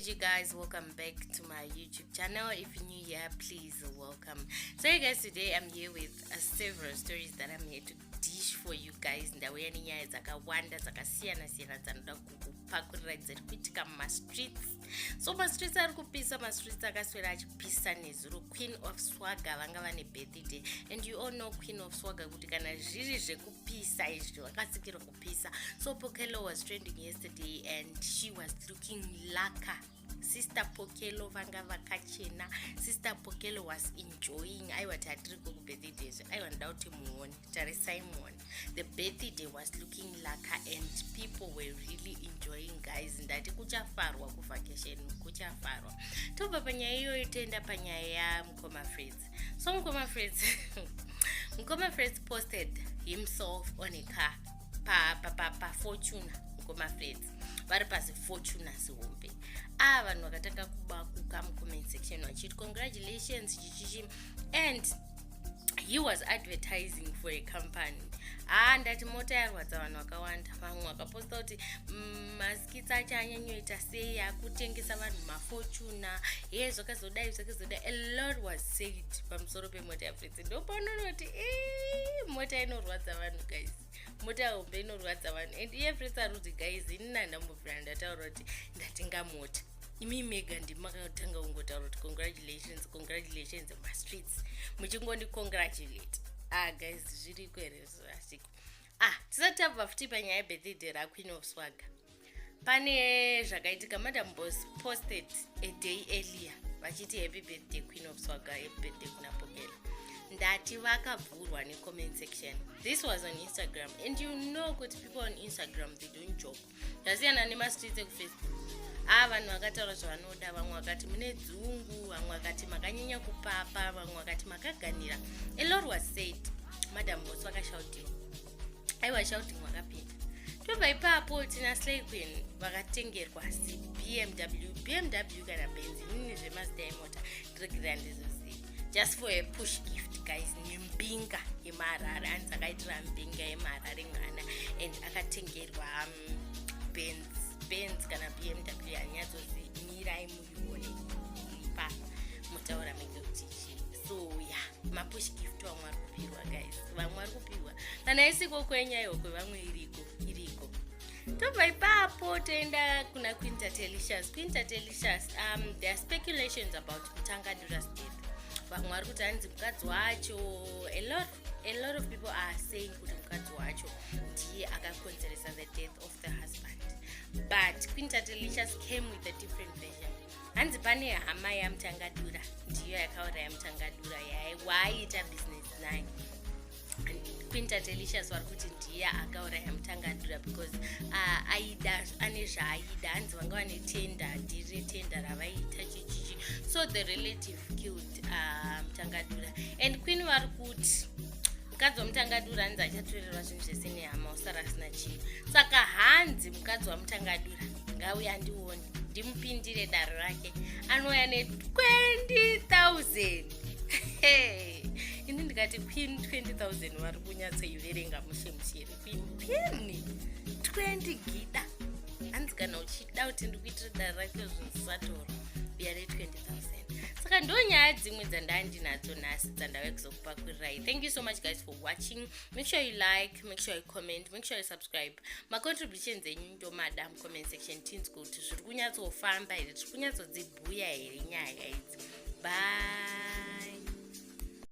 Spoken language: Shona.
you guys welcome back to my youtube channel if you're new here please welcome so you guys today i'm here with uh, several stories that i'm here to dish for you guys ndauya nenyaya dzakawanda dzakasiyana siyana dzanoda kukupakurira dziri kuitika mumastreets so mastreets ari kupisa mastreets akaswera achipisa nezuro queen of swaga vanga vane birthday and you all know queen of swaga kuti kana zviri zvekupisa izvi vakasikirwa pisa so pokelo was trending yesterday and she was looking laka sister pokelo vanga vakachena sister pokelo was enjoying aiwa ti hatiri ko kubirthday zve aiwa ndoda kuti muone tarisai muone the birthday was looking laka and people were really enjoying guys ndati kuchafarwa kuvacation kuchafarwa tobva panyaya iyoyo toenda panyaya yamukoma freds so mukoma freds mukoma freds posted himself on a car pafortuna pa, pa, pa mukoma freds vari pazifortuna zihombe aa ah, vanhu vakatanga kuba kuka mucomment section vachiti congratulations chichichi and he was advertising for a company haa ah, ndati mota yarwadza vanhu vakawanda vamwe vakaposta kuti mm, kitsa chanyanyoita sei akutengesa vanhu mafortuna hee zvakazodai zvakazodai a lot was said pamusoro pemota yaprince ndopaunonoti ee mota inorwadza vanhu guys mota hombe inorwadza vanhu and iye prince aroti guys ini nandambovira ndataura kuti ndatenga mota imi mega ndimakatanga kungotaura kuti congratulations congratulations mastreets muchingondicongratulate ah guys zviriko here zvasiku ah tisati tabva futi panyaya yebirthday raqueen of swaga pane zvakaitika madam bos posted a day earlier vachiti happy birthday queen of swaga happy birthday kuna pokela ndati vakabvurwa necomment section this was on instagram and you know kuti people on instagram they don't joke zvasiyana nemastreets ekufacebook aa vanhu vakataura zvavanoda vamwe vakati mune dzungu vamwe vakati makanyanya kupapa vamwe vakati makaganira elor was said madam mosi vakashautiwa aiwa shouting wakapinda tobva ipapo tina slayquin vakatengerwa cbmw bmw kana benzi nini zvemazita emota regerera ndizoziva just for a push gift guys nembinga yemaharare anzi akaitira mbinga yemaharare mwana and akatengerwa um, benz benz kana bmw yanyatsonzi mirai muione ipa mutaura menge kuti chii so ya mapush gift vamwe ari kupihwa guys vamwe ari kupihwa kana isiko kwenyayokwe vamwe iriko tobva ipapo toenda kuna quintatelicious quintatelicious um, there are speculations about kutanga durasdep vamwe vari kuti hanzi mukadzi wacho a lot a lot of people are saying kuti mukadzi wacho ndiye akakonzeresa the death of the husband but quinta delicious came with a different version hanzi pane hama yamutangadura ndiyo yakauraya mutangadura yaye waayiita business naye queen tatelicious vari kuti ndiye akauraya mutangadura because uh, aida ane zvaaida hanzi vanga vane tenda dhiri retenda ravaiita chichichi so the relative killed uh, mutangadura and queen vari kuti mukadzi wamutangadura hanzi achatorerwa zvinhu zvese nehama usara asina chii saka hanzi mukadzi wamutangadura ngauye andione ndimupindire daro rake anouya ne 20000 ini ndikati queen 20000 vari kunyatsoiverenga mushe mushe here queen queen 20 gida hanzi kana uchida kuti ndikuitira dara rake zvisatora uya ne 20000 saka ndo nyaya dzimwe dzandandinadzo nhasi dzandave kuzokupakwirirai thank you so much guys for watching make sure you like make sure you comment make sure you subscribe macontributions enyu ndomada mucomment section tinzwe kuti zviri kunyatsofamba here tiri kunyatsodzib Huya here nyaya idzi. Bye.